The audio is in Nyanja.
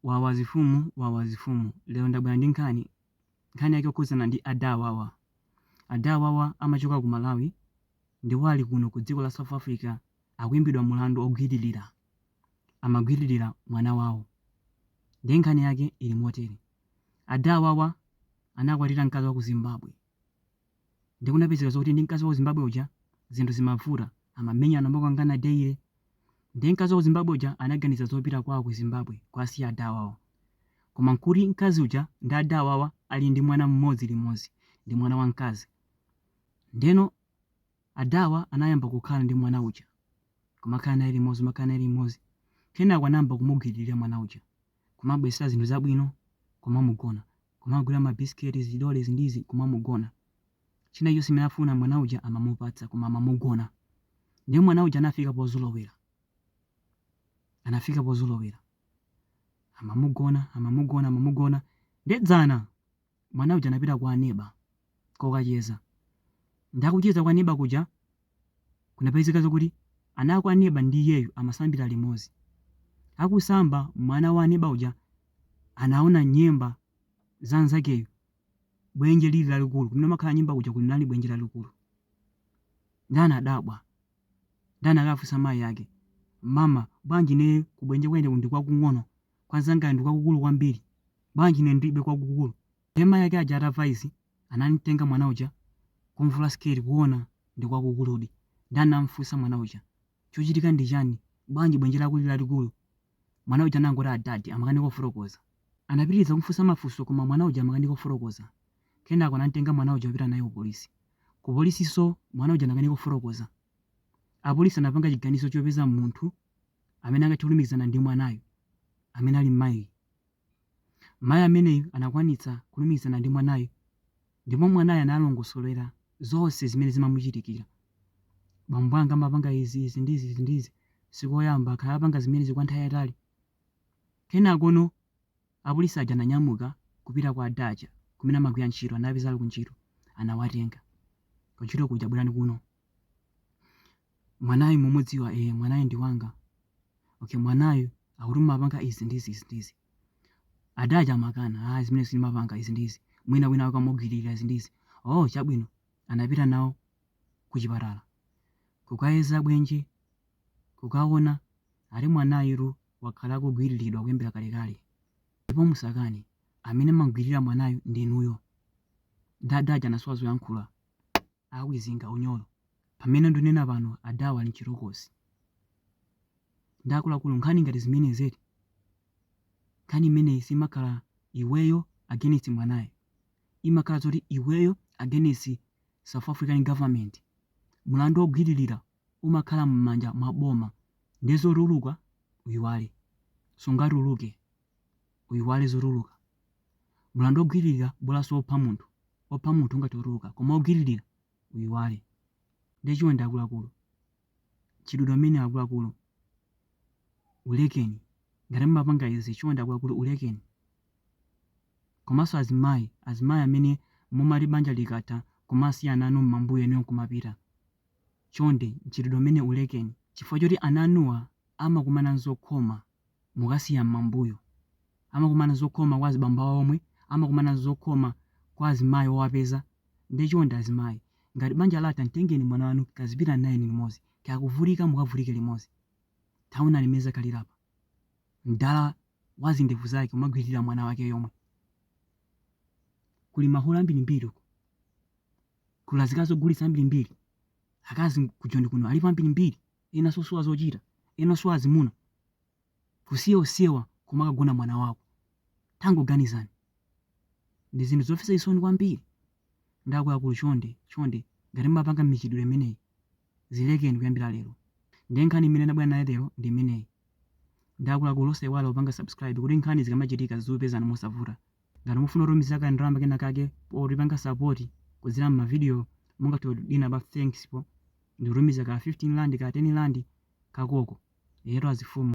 Wawa zifumu wawa zifumu lero ndabwera ndi nkhani nkhani yake yokhudzana ndi ada awawa ada awawa amachoka ku Malawi ndipo ali kuno ku dziko la South Africa akuimbidwa mulandu ogwiririra amagwiririra mwana wawo ndiye nkhani yake ili motere ada awawa anakwatira mkazi wa ku Zimbabwe Ndiye kunapezeka zoti ndi mkazi wa ku Zimbabwe uja zinthu zimavuta, amamenyana amakangana daily. Ndiye mkazi wa ku Zimbabwe uja anaganiza zopita kwawo ku Zimbabwe kuwasiya ada awawa. Koma nkuti mkazi uja ndi ada awawa ali ndi mwana mmodzi limodzi ndi mwana wamkazi. Ndiyeno adawa anayamba kukhala ndi mwana uja, kumakhala naye limodzi, kumakhala naye limodzi. Kenako anayamba kumugwiririra mwana uja, kumabweretsa zinthu zabwino, kumamugona. kumagula mabiscuits, zidole izi ndi izi kumamugona. China chilichonse chimene afuna mwana uja amamupatsa koma amamugona. Ndiye mwana uja anafika pozolowera. Anafika pozolowera. Amamugona, amamugona, amamugona. Ndiye dzana mwana uja anapita kwa aneba kokacheza. Ndiye akucheza kwa aneba kuja Kunapezeka zakuti ana aku aneba ndi iyeyu amasambira limodzi. Akusamba mwana wa aneba uja anaona nyemba za nzakeyu bwenje lili lalikulu kumene kumakhala nyemba kuja kunali bwenje lalikulu nde anadabwa nde anakafunsa mayi ake mama bwanji ineyo kubwenje kwa ine ndi kwakung'ono kwa nzangayo ndi kwakukulu kwambiri bwanji ine ndilibe kwakukulu ndiye mayi ake aja atamva izi Anamtenga mwana uja kumvula siketi kuona ndi kwakukuludi nde anamfunsa mwana uja chochitika ndi chani bwanji bwenje lako lili lalikulu mwana uja anangoti adadi amakanika kufotokoza anapitiriza kumfunsa mafunso koma mwana uja amakanika kufotokoza kenako anamtenga mwana uja kupita naye kupolisi kupolisinso mwana uja anakanika kufotokoza apolisi anapanga chiganizo chopeza munthu amene angathe kulumikizana ndi mwanayo amene ali mmayi Mayi ameneyu anakwanitsa kulumikizana ndi mwanayo ndipo mwanayo analongosolera zonse zimene zimamuchitikira. Bambo anga amapanga izi, izi ndi izi, izi ndi izi. Sikoyamba, akhala akupanga zimenezi kwa nthawi yayitali. Kenakono apolisi aja ananyamuka kupita kwa ada aja kumene amagwira ntchito, anawapeza ali kuntchito, anawatenga. Kuntchito kuja, bwerani kuno. mwanayu mumudziwa e mwanayu ndi wanga okay mwanayu akuti mumapanga izi ndi izi izi ndi izi adaja amakana a zimenezo sindimapanga izi ndi izi mwina wina akamugwiririra izi ndi izi oh chabwino anapita nawo ku chipatala kukayeza bwenje kukaona ati mwanayu wakhala akugwiriridwa kuyambira kalekale ndipo musakani amene amamgwiririra mwanayu ndinuyo nde adaja anasowa zoyankhula Akwizinga unyolo pamene ndunena pano adhawa ali mchitokosi ndi akuluakulu nkhani ngati zimenezi eti? Nkhani imeneyi simakhala iweyo against mwanayo imakhala zoti iweyo against south african government mulandu ogwililira umakhala mmanja mwa boma nde zotuluka uyiwale sungatuluke. uyiwale zotuluka. Mulandu ogwililira bolaso opha munthu opha munthu ungatuluka koma ogwililira uyiwale. Nde chonde akuluakulu mchitidwe umenewu akuluakulu ulekeni ngati mumapanga izi chonde akuluakulu ulekeni. Komaso azimayi azimayi amene mumati banja likatha kumasiya ana anu mmambuyo inuyo nkumapita chonde mchitidwe umenewu ulekeni chifukwa choti ana anuwa amakumana nzokhoma. mukasiya mmambuyo amakumana zokhoma kwa azibambo awo omwe amakumana zokhoma kwa azimayi owapeza nde chonde azimayi ngati banja latha mtengeni mwana wanu kazipitani naye limozi kaya kuvutika mukavutike limozi taonani mmene zakhalira apa mdala wazindevu zake kumagwililira mwana wake yomwe kuli mahule ambirimbiri uko kuli azikazi ogulitsa ambirimbiri akazi kujoni kuno alipo ambirimbiri ena sosowa zochita ena osowa azimuna kusiya onsewa kumakagona mwana wako tangoganizani ndi zinthu zomvetsa chisoni kwambiri ndi akuluakulu chonde chonde ngati mumapanga michitidwe imeneyi zilekeni kuyambira lero ndiye nkhani imene ndabwera nayo lero ndi imeneyi ndi akuluakulu osaiwala kupanga subscribe kuti nkhani zikamachitika zizikupezani mosavuta Ngati mufuna kutumiza ka ndalama kena kake potipanga support kudzera mma video mungathe kudina pa thanks po ndikutumiza ka 15 rand ka 10 rand kakoko. Eyetu azifumu.